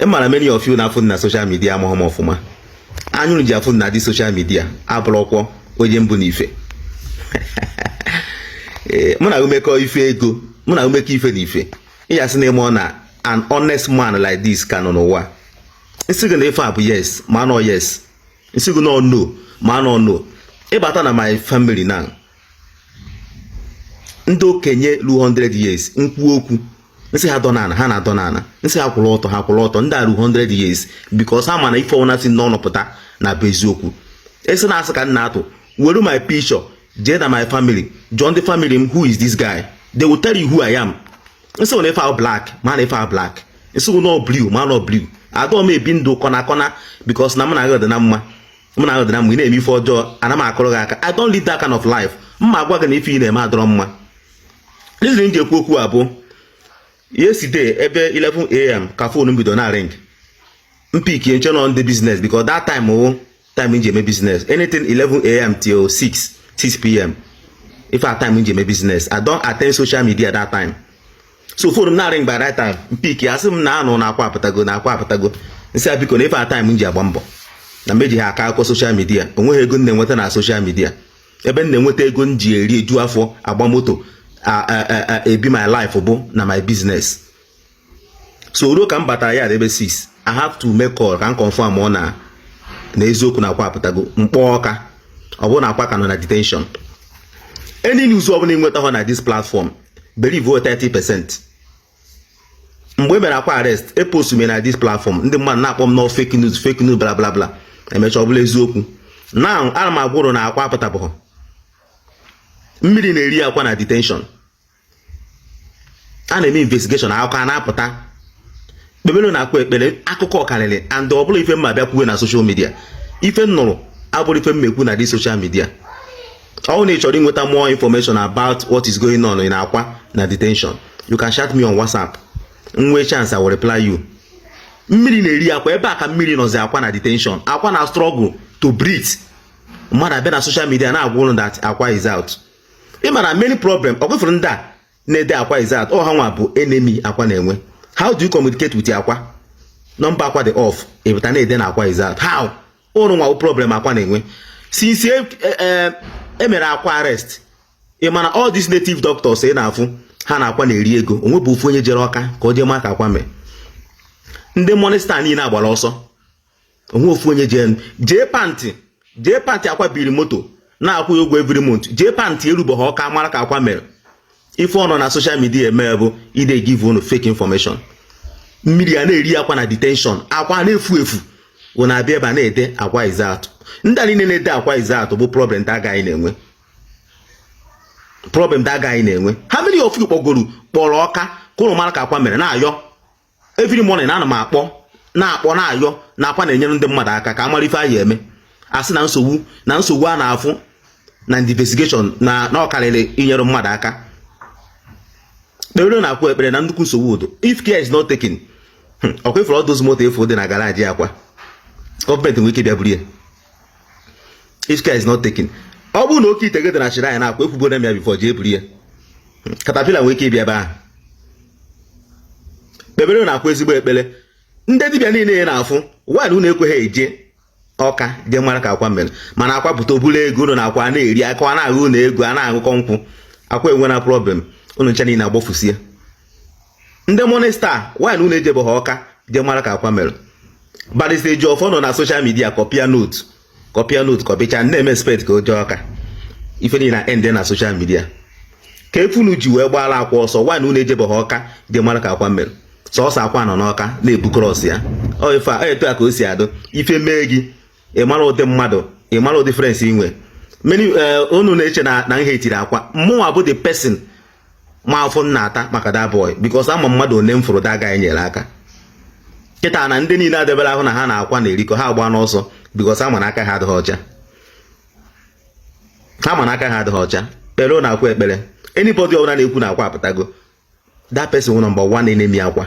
ị mara many of you na-afụ m na social media amaghị m ọfụma anya ụnụ ji afụ m na this social media abụrọkwa onye m bụ na ife eh, mụ na gị mekọ ife ego mụ na gị mekọ ife na ife ị ya-asị na ịmụọ na an honest man like this ka nọ n'ụwa m sị gị na ife a bụ yes ma na ọ yes m sị gị na ọ no ma na ọ no ị bata na my family now ndị okenye ruru 100 years m kwuo okwu m sị ha dọ n'ala ha na-adọ n'ala m sị ha kwụrụ ọtọ ha kwụrụ ọtọ ndị ruru 100 years because ha ma na ife ọbụna si m n'ọnụ pụta na-abụ eziokwu ị sị na asị ka m na-atụ were my picture jee na my family jụọ ndị family m who is this guy they will tell you who I am m sị gị na ife ahụ black ma na ife ahụ black m sị gị na ọ blue ma na ọ blue adọọ m ebi ndụ corner corner because na mụ na gị adị na mma mụ na gị adị na mma ị na-eme ife ọjọọ ana m akụrụ gị aka I don't live that kind of life mma agwa gị na ife ị na-eme adọrọ mma reason m ji ekwu okwu a bụ yesterday ebe 11am ka phone m bido na-ring m pick m chee na ọ ndị business because that time wụ time m ji eme business anything 11am till 6 6pm ife a time m ji eme business I don't attend social media that time so phone m na-ring by that time m pick a sị m na anụ na akwa apụtago na akwa apụtago m sị biko na ife a time m ji agba mbọ na m ejighị akọ akụkọ social media onweghị ego m na-enweta na social media ebe m na-enweta ego m ji eri eju afọ agba moto ebi my life bụ na my business so ruo ka m batara ya ebe 6 i have to make call ka m confirm ọ na na eziokwu na akwa apụtago m kpọọ ọka ọ bụrụ na akwa ka nọ na detention any news ọ bụla ị nweta hụ na this platform believe 30 percent mgbe e mere akwa arrest epost m ya na this platform ndị mmadụ na-akpọ m na ọ fake news fake news bla bla bla e mechaa ọ bụrụ eziokwu now ana m agwa ụnụ na akwa apụtabeghị mmiri na-eri akwa na detention a na-eme investigation akụkọ a na-apụta kpebelụnụ akwa ekpere akụkọ karịrị and ọ bụrọ ife m ma-abịa kwuwe na social media ife m nụrụ abụrọ ife m ma-ekwu na this social media ọ na ị chọrọ inweta more information about what is going on in akwa na detention you can chat me on whatsapp m nwee chance I will reply you mmiri na-eri akwa ebe a ka mmiri nọzi akwa na detention akwa na-struggle to breathe mmadụ abịa na social media na-agwa ụnụ that akwa is out ị mara many problem ọ gwefere ndị a na-ede akwa is out ọ ha nwa bụ enemy akwa na-enwe how do you communicate with akwa number akwa dị off ị pụta na-ede na akwa is out how ụnụ nwa problem akwa na-enwe since e, e, e, e mere akwa arrest ị ma na all these native doctors ị na-afụ ha na akwa na-eri ego o nwebe ofu onye jere ọka ka o jee maa ka akwa mee ndị monista niile agbara ọsọ o nwe ofu onye jee jee pantị jee pantị akwa biri moto na-akwụ ya ụgwọ every month jee pantị erubeghị ọka mara ka akwa mere ife ọ nọ na soshal midia eme bụ ide give unu fake information mmiri a na-eri akwa na detention akwa na-efu efu ọ na-abịa ebe a na-ede akwa is out ndị a niile na-ede akwa is out bụ problem that guy na-enwe problem that guy na-enwe how many of you kpọgoro kpọrọ ọka ka unu mara ka akwa mere na-ayọ every morning ana m akpọ na-akpọ na-ayọ na akwa na-enyere ndị mmadụ aka ka a mara ife a ya-eme a sị na nsogbu na nsogbu a na-afụ na investigeshọn na na ọ karịrị inyere mmadụ aka kpere nụ akwa ekpere na nnukwu nsogbu dụ o if care is not taken hmm, ọkwa ị fụrụ all those moto afụ dị na garaji akwa gọọmenti nwere ike bịa buru ya if care is not taken ọ bụrụ na oke ite gị dị na shrine akwa ekwugo m ya bifọ jee buru ya hmm, katapila nwere ike ịbịa ebe ahụ kpebere nụ akwa ezigbo ekpere ndị dibịa niile ya na-afụ one unu ekweghị eje ọka je mara ka akwa mere mana akwa pụta ọ bụrụ ego unu na akwa na-eri akwa na-aghụ unu ego a na-aṅụkọ nkwụ akwa enwena problem unu ncha niile agbafusie ndị monista one unu ejebeghị ọka je mara ka akwa mere barịsta Ejiọfọ nọ na soshal midia kọpịa note kọpịa note kọpịcha na-eme expect ka o jee ọka ife niile na-end na soshal midia kee ife unu ji wee gbaara akwa ọsọ one unu ejebọghị ọka jee mara ka akwa mere sọsọ akwa nọ n'ọka na-ebu krọs ya ọ ife a etu a ka o si adụ ife mee gị ịmara ụdị mmadụ ịmara ụdị friends i nwe many eh, unu na-eche na na m heetiri akwa mụnwa bụ the person ma afụ m na-ata maka that boy because ama m mmadụ ole m fụrụ that guy nyere aka kịta na ndị niile adebere ahụ na ha na akwa na-erikọ ha agbana ọsọ because ha ma na aka ha adịghị ọcha ha ma na aka ha adịghị ọcha kpere nụ akwa ekpere anybody ọbụla na-ekwu na akwa apụtago that person wụ number one enemy akwa